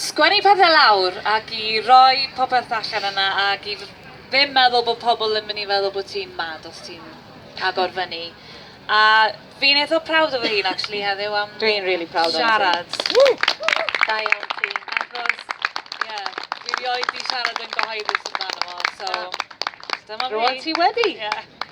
sgwennu pethe lawr ac i roi popeth allan yna ac i ddim meddwl bod pobl yn mynd i feddwl bod ti'n mad os ti'n agor fyny. A fi'n eitha proud o fy hun actually heddiw am Dwi'n really proud o'n siarad. Da iawn ti. Achos, ie, yeah, dwi rioed di siarad yn gyhoeddus amdano fo, so dyma fi. Rwan ti wedi! Yeah.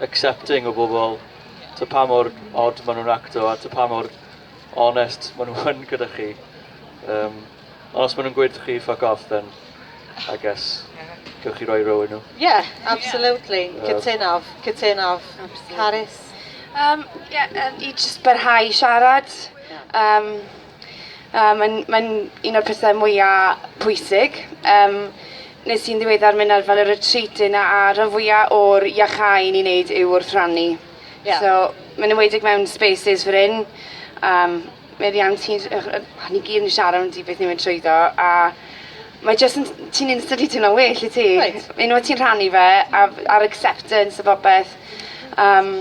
accepting o bobl, ta pa mor od maen nhw'n acto a ta pa mor onest maen nhw yn gyda chi. Um, ond os maen nhw'n gweud chi fuck off, then I guess gewch chi roi row i nhw. Yeah, absolutely. Yeah. Cytunaf, cytunaf. Carys? Um, yeah, um, I just barhau siarad. Um, A mae'n mae'n un o'r pethe mwya pwysig. Yym nes i'n ddiweddar myn' ar fel y retreat yna a rhan fwya o'r iacáu ni'n neud yw wrth rannu. Ie. So ma'n enwedig mewn spaces fel 'yn yym meddian ti j- yy yy o ni gyd yn siarad ambytu beth ni'n mynd trwyddo a mae jyst yn t- ti'n instantly timlo'n well yt ti? Wyt. Unweth ti'n rhannu fe a f- a'r acceptance a popeth yym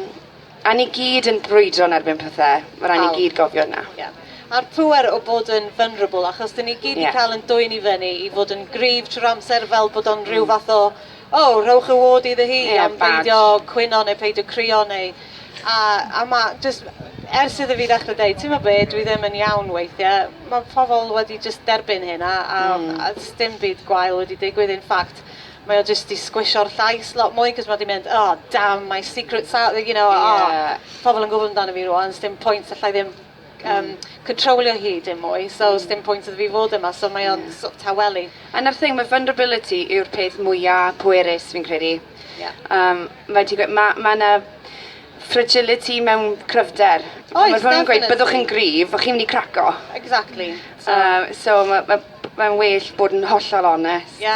A ni gyd yn brwydro yn erbyn pethe. Ma' rai' ni gyd gofio hynna. Ie. A'r pŵer o bod yn vulnerable achos 'dyn ni gyd 'di ca'l yn dwyn i fyny i fod yn gryf trw'r amser fel bod o'n rhyw fath o o rhowch y ward iddo hi am beidio cwyno neu peidio crio neu a a ma' jyst ers iddo fi ddechre deud t'mo' be' dwi ddim yn iawn weithie ma' pobol wedi jyst derbyn hyn a a a sdim byd gwael wedi digwydd in fact Mae o jyst 'di sgwisio'r llais lot mwy 'c'os ma' 'di mynd oh damn my secret sa- you know oh... Ie. ...pobol yn gwbod amdano fi rŵan sdim pwynt allai ddim yym cyntrowlio hi dim mwy so sdim pwynt iddo fi fod yma so mae o'n sort of tawelu. A 'na'r thing ma' vulnerability yw'r peth mwya pwerus fi'n credu. Ie. Yym fel ti'n gwe- ma' ma' 'na fragility mewn cryfder. Oes definitely. Fel ma' nw'n gweud byddwch yn gryf o' chi'n myn' i craco. Exactly so... Yy so ma' ma' mae'n well bod yn hollol onest. Ie.